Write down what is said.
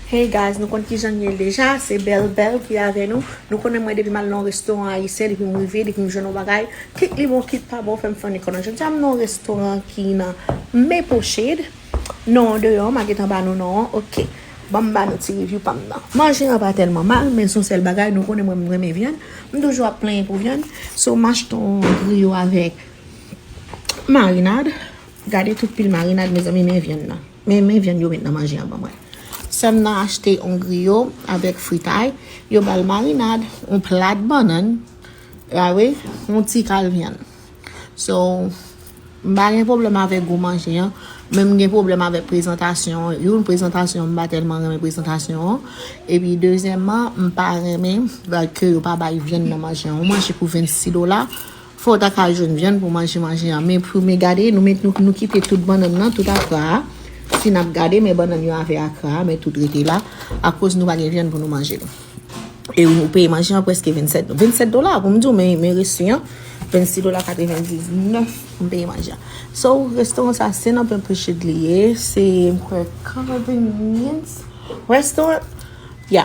Hey guys nou konn kijan li ye deja se bèl bèl ki avè nou nou konnen mwen depi mal nan yon restoran ayisyen depi m rive depi m jwenn yon bagay kit li bon kit pa bon fè m fè yon ekònomi jodi a m nan yon restoran ki nan Maple shade non an deyò m a gentan ba nou non an ok banm ba nou ti review pa m nan manje an pa tèlman mal men son sèl bagay nou konnen mwen m renmen vyann m toujou ap plenyen pou vyann so m achte yon griyo avèk marinad gade tout pil marinad mezanmi men vyann nan. Men men vyann yo met nan manje an ban mwen. Sèm nan achte on griyo avèk fritay, yo bal marinad, on plat bannann, ah wi, on ti kal vyann. So, m pa gen pwoblèm avèk gou manje an, men m gen pwoblèm avèk prezantasyon an. Youn, prezantasyon an m pa tèlman renmen prezantasyon an, epi dezyèman, m pa renmen ke yo pa bay vyann nan manje an. On manje pou 26 dola, Fè w ta ka jwenn vyann pou manje manje an. Men premye gade, nou met nou kite tout bannann nan, tout akra a. Si n ap gade, men bannann yo avè akra a, men tout rete la. Akoz nou pa gen vyann pou nou manje. E ou peye manje an prèske 27 dola. 27 dola pou m di w, men men resi an, 26 dola 99 m peye manje an. So, restoran sa a, Sen Anpè Priched li ye. Se m kwè Convenience Restaurant. Ya.